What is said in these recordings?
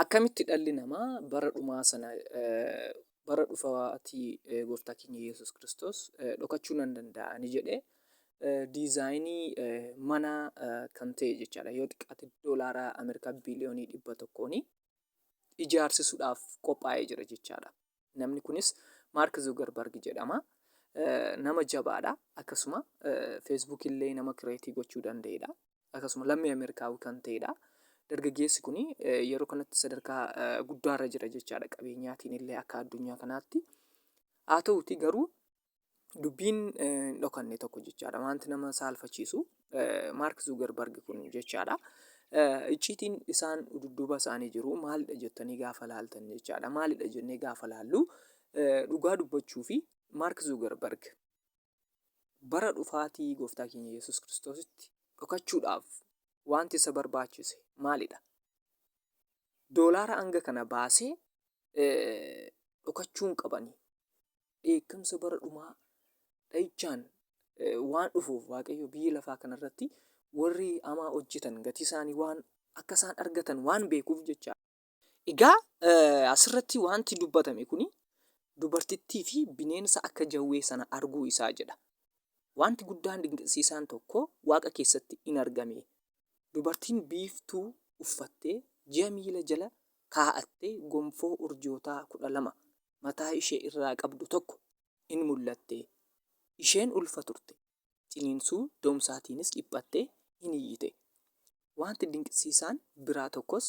Akkamitti dhalli namaa bara dhumaa sana, bara dhufaatii gooftaa keenya Yesus Kiristoos dhokachuu nan danda'a ni jedhe. Diizaayinii mana kan ta'e jechaadha. Yoo xiqqaate doolaara Ameerikaa biiliyoonii dhibba tokkoon ijaarsisuudhaaf qophaa'ee jira jechaadha. Namni kunis Maark Zuugarbarg jedhama. Nama jabaadha. Akkasuma Facebook illee nama kireetii gochuu danda'edha. Akkasuma lammii Ameerikaawii kan ta'edha. Dargaggeessi kun yeroo kanatti sadarkaa guddaarra jira jechaadha. Qabeenyaatiin illee akka addunyaa kanaatti. Haa ta'uuti garuu dubbiin hin dhokanne tokko jechaadha. Wanti nama saalfachiisu Maark Zuugarbarg kun jechaadha. Icciitiin isaan dudduuba isaanii jiru maalidha jettanii gaafa laaltan jechaadha. Maalidha jennee gaafa laallu dhugaa dubbachuu fi Maark Zuugarbarg bara dhufaatii gooftaa keenya Yesuus Kiristoositti dhokachuudhaaf wanti isa barbaachise maalidha? Doolaara hanga kana baasee dhokachuun qabani. dheekkamsa bara dhumaa dha'ichaan waan dhufuuf Waaqayyo biyya lafaa kanarratti warri hamaa hojjetan gatii isaanii waan akka isaan argatan waan beekuuf jecha. Egaa asirratti wanti dubbatame kun dubartittii fi bineensa akka jawwee sana arguu isaa jedha. Wanti guddaan dinqisiisaan tokko waaqa keessatti in argame. Dubartiin biiftuu uffattee ji'a miila jala kaa'attee gonfoo urjootaa kudha lama mataa ishee irraa qabdu tokko in mul'atte, isheen ulfa turte, ciniinsuu doomsaatiinis dhiphattee in iyyite, wanti dinqisiisaan biraa tokkos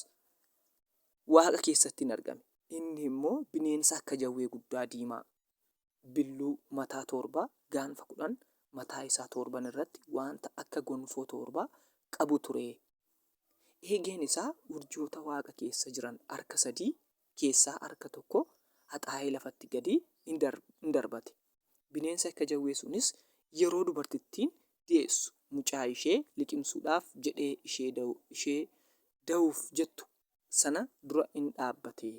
waaqa keessatti in argame, inni immoo bineensa akka jawwee guddaa diimaa, billuu, mataa torba, gaanfa kudhan, mataa isaa torban irratti wanta akka gonfoo torba qabu ture, eegeen isaa urjoota waaqa keessa jiran harka sadii keessaa harka tokko haxaa'ee lafatti gadi in darbate. Bineensa akka jawwee sunis yeroo dubartittiin deessu mucaa ishee liqimsuudhaaf jedhee ishee da'uuf jettu sana dura in dhaabbate.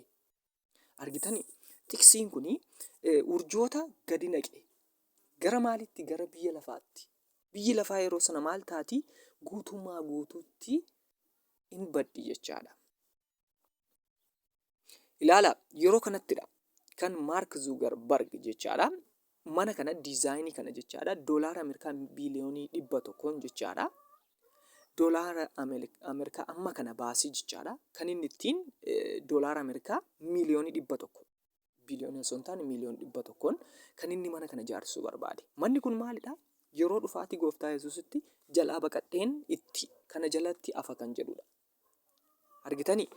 Argitanii? Tiksiin kun urjoota gadi naqe. Gara maalitti? Gara biyya lafaatti. Biyyi lafaa yeroo sana maal taati? Guutummaa guutuutti in baddi jechaadha. Ilaala yeroo kanattidha kan Maark Zuugarbarg jechaadha. Mana kana diizaayinii kana jechaadha doolaara Ameerikaa biiliyoonii dhibba tokkoon jechaadha. Doolaara Ameerikaa amma kana baasii jechaadha. Kan inni ittiin doolaara Ameerikaa miiliyoonii dhibba tokko biliyoona osoo hin taane miiliyoon dhibba tokkoon kan inni mana kana ijaarsisuu barbaade. Manni kun maalidha? Yeroo dhufaatii gooftaa Yesuusitti jalaa baqadheen itti kana jalatti afa kan jedhudha. Argitanii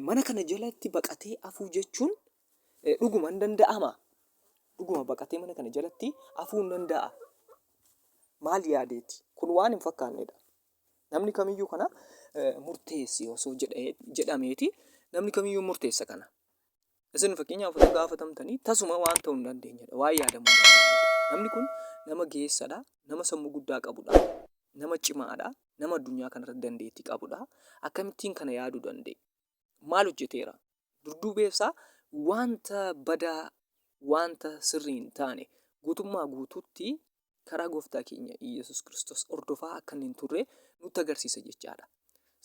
mana kana jalatti baqatee afuu jechuun dhuguma hin danda'ama. Dhuguma baqatee mana kana jalatti afuu hin danda'a. Maal yaadeeti? Kun waan hin fakkaannedha. Namni kamiyyuu kana murteessi osoo jedhameeti namni kamiyyuu murteessa kana. Isin fakkeenyaaf osoo gaafatamtanii tasuma waan ta'uu hin dandeenyedha. Waan yaadamu hin dandeenyedha. Namni kun nama geessadha, nama sammuu guddaa qabudha, nama cimaadha, nama addunyaa kanarratti dandeettii qabudha. Akkamittiin kana yaaduu danda'e? Maal hojjeteera? Durduubeefsaa wanta badaa, wanta sirrii hin taane guutummaa guutuutti karaa gooftaa keenya Iyyasuus Kiristoos hordofaa akka inni hin turre nutti agarsiisa jechaadha.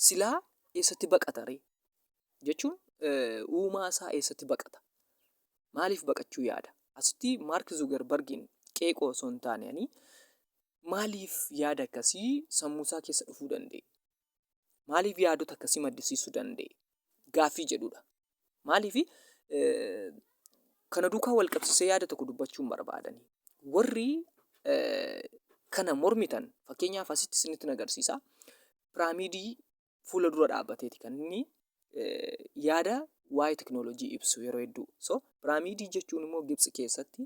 Silaa eessatti baqata ree? Jechuun uumaa isaa eessatti baqata? Maaliif baqachuu yaada? Asitti Maark Zuugarbargiin qeeqoo osoo hin taane ani maaliif yaada akkasii sammuu isaa keessa dhufuu danda'e? Maaliif yaadota akkasii maddisiisuu danda'e? Gaaffii jedhudha. Maaliif kana duukaa wal qabsiisee yaada tokko dubbachuun barbaadani. Warri kana mormitan fakkeenyaaf asitti isinitti nagarsiisa. Piraamiidii fuula dura dhaabbateeti kan inni yaada waa'ee teknoolojii ibsu yeroo hedduu. So piraamiidii jechuun immoo Gibsi keessatti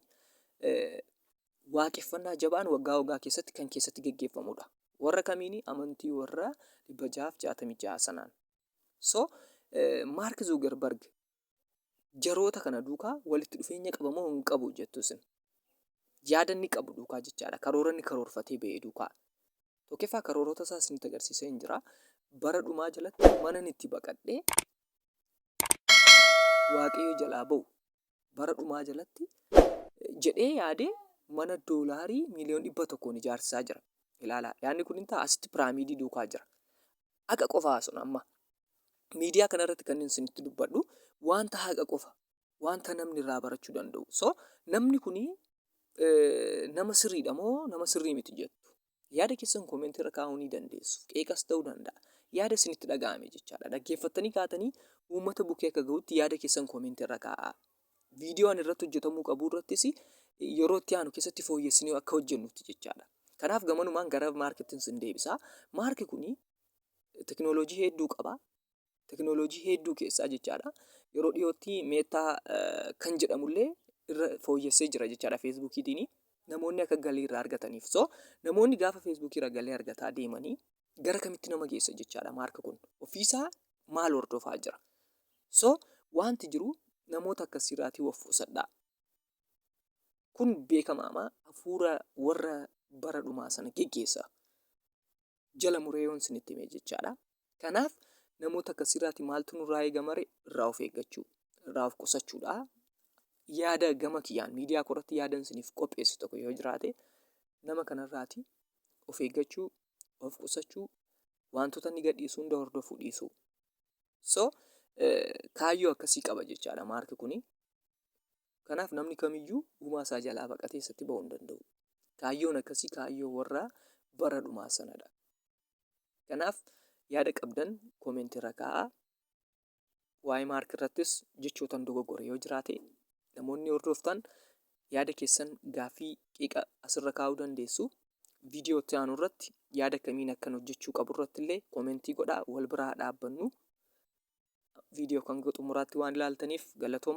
waaqeffannaa jabaan waggaa waggaa keessatti kan keessatti geggeeffamudha. Warra kamiini? Amantii warra 666 sanaan. So Maark Zuugarbarg jaroota kana duukaa walitti dhufeenya qaba moo hin qabu jettu isin? Yaada inni qabu duukaa jechaadha. Karoora inni karoorfatee ba'e duukaa. Tokkoffaa karoorota isaa isinitti agarsiisee hin jira. Bara dhumaa jalatti mana itti baqadhee waaqayyo jalaa ba'u bara dhumaa jalatti jedhee yaadee mana doolaarii miiliyoon dhibba tokkoon ijaarsisaa jira. Ilaalaa yaadni kun ta'a asitti piraamiidii duukaa jira. Haqa qofaa sun amma miidiyaa kana irratti kan inni isinitti dubbadhu wanta haqa qofa wanta namni irraa barachuu danda'u. So namni kun nama sirriidha moo nama sirrii miti jettu. Yaada keessan koomentii irra kaa'uu ni dandeessu. Qeeqas ta'uu danda'a. Yaada isinitti dhaga'ame jechaadha. Dhaggeeffattanii kaatanii uummata bukkee akka ga'utti yaada keessan koomentii irra kaa'aa. Viidiyoo ani irratti hojjetamuu qabu irrattis yeroo itti aanu keessatti fooyyessinee akka hojjennutti jechaadha. Kanaaf gamanumaan gara maarkitti sin deebisa. Maarki kuni tekinooloojii hedduu qaba. teknooloojii hedduu keessaa jechaadha. Yeroo dhiyootti meetaa kan jedhamullee irra fooyyessee jira jechaadha feesbuukiitiin namoonni akka galii irraa argataniif. So namoonni gaafa feesbuukii irra galii argataa deemanii gara kamitti nama geessa jechaadha maarka kun ofiisaa maal hordofaa jira. So wanti jiru namoota akkasiirraatii of qusadhaa. Kun beekamaama hafuura warra bara dhumaa sana geggeessa. jala muree yoon isinitti hime jechaadha. Kanaaf namoota akkasiirraati maaltu nurraa eegamare irraa of eeggachuu irraa of qusachuudha. Yaada gama kiyyaan miidiyaa koorratti yaadan isiniif qopheessu tokko yoo jiraate nama kanarraati of eeggachuu of qusachuu wantoota inni gadhiisu hunda hordofuu dhiisuu. So kaayyoo akkasii qaba jechaadha maarki kuni. Kanaaf namni kamiyyuu uumaa isaa jalaa baqatee isatti ba'uu hin danda'u. Kaayyoon akkasii kaayyoo warra bara dhumaa sanadha. Kanaaf yaada qabdan koomeentii irra kaa'aa. Waa'ee maark irrattis jechootan dogoggore yoo jiraate namoonni hordoftan yaada keessan gaaffii qiqa asirra kaa'uu dandeessu. Viidiyoo itti aanu irratti yaada akkamiin akkan hojjechuu qabu irratti illee koomeentii godhaa wal biraa dhaabbannu. Viidiyoo kan xumuraatti waan ilaaltaniif galatooma.